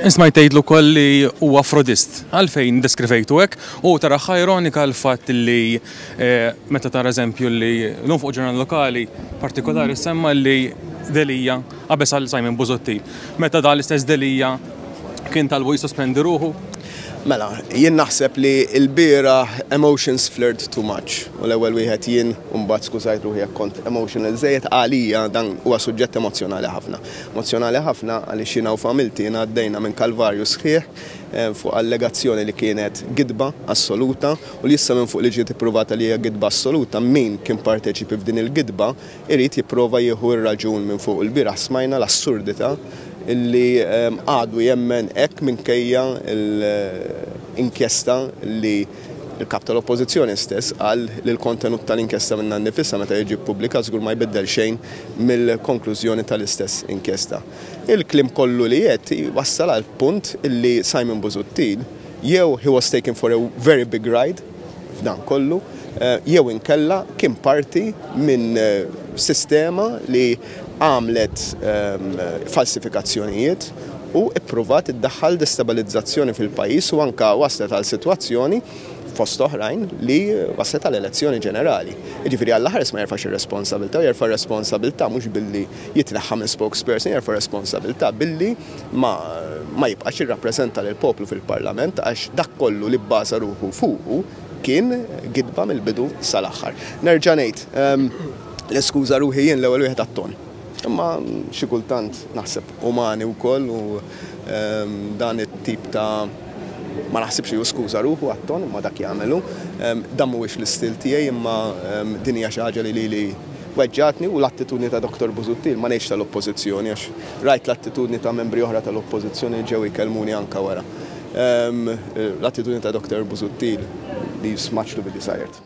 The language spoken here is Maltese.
Isma jtejtlu koll li u afrodist, għalfejn deskrivejtu hekk u tara ironika l-fatt li eh, meta tara eżempju li l-lum fuq ġurnal lokali partikolari semma li Delija għabes għal Simon Buzotti. Meta da l-istess Delija kien talbu jisospendi ruħu Mela, jien naħseb li lbieraħ emotions flirt too much u l-ewwel wieħed jien u mbagħad skużajt ruħi jekk kont emotional żejjed għalija dan huwa suġġett emozzjonali ħafna. Emozzjonali ħafna għaliex jiena u familti jiena għaddejna minn kalvarju sħiħ fuq allegazzjoni li kienet gidba assoluta u li issa minfuq li ġiet ippruvata li hija gidba assoluta min kien parteċipi f'din il-gidba Irid jipprova jieħu r-raġun minn fuq. Ilbieraħ smajna l-assurdità li għadu jemmen hekk minkejja l-inkjesta li l-Kap tal-Oppożizzjoni stess qal li l-kontenut tal-inkjesta minnha nnifisha meta jiġi ppubblikat żgur ma jbiddel xejn mill-konklużjoni tal-istess inkjesta. Il-kliem kollu li għedt wassal għall-punt li Simon Busuttil jew he was taken for a very big ride, f'dan kollu jew inkella kien parti minn sistema li għamlet falsifikazzjonijiet u ippruvat iddaħħal destabilizzazzjoni fil-pajjiż u anke waslet għal sitwazzjoni fost oħrajn li waslet għal elezzjoni ġenerali. Jiġifieri Alla ħares ma jerfax ir-responsabilità, jerfa' r-responsabilità mhux billi jitneħħa minn spokesperson, jerfa' r-responsabilità billi ma, ma jibqax jirrappreżenta lill-poplu fil-Parlament għax dak kollu li bbasa ruħu fuqu kien gidba mill-bidu sal-aħħar. Nerġa' ngħid, ehm, niskuża ruħi jien l-ewwel wieħed għat-ton. Imma xi kultant naħseb umani wkoll u ehm, dan it-tip ta' ma naħsibx li jiskuża ruħu għat-ton imma dak jagħmelu. Ehm, dan mhuwiex l-istil tiegħi imma ehm, din hija xi ħaġa li lili Weġġgħatni u l-attitudni ta' Dottor Busuttil, ma ngħidx tal-Oppożizzjoni għax rajt l-attitudni ta' membri oħra tal-Oppożizzjoni li ġew jkellmuni anke wara. L-attitudni ta' Dottor Busuttil li smaġtu billi sajert.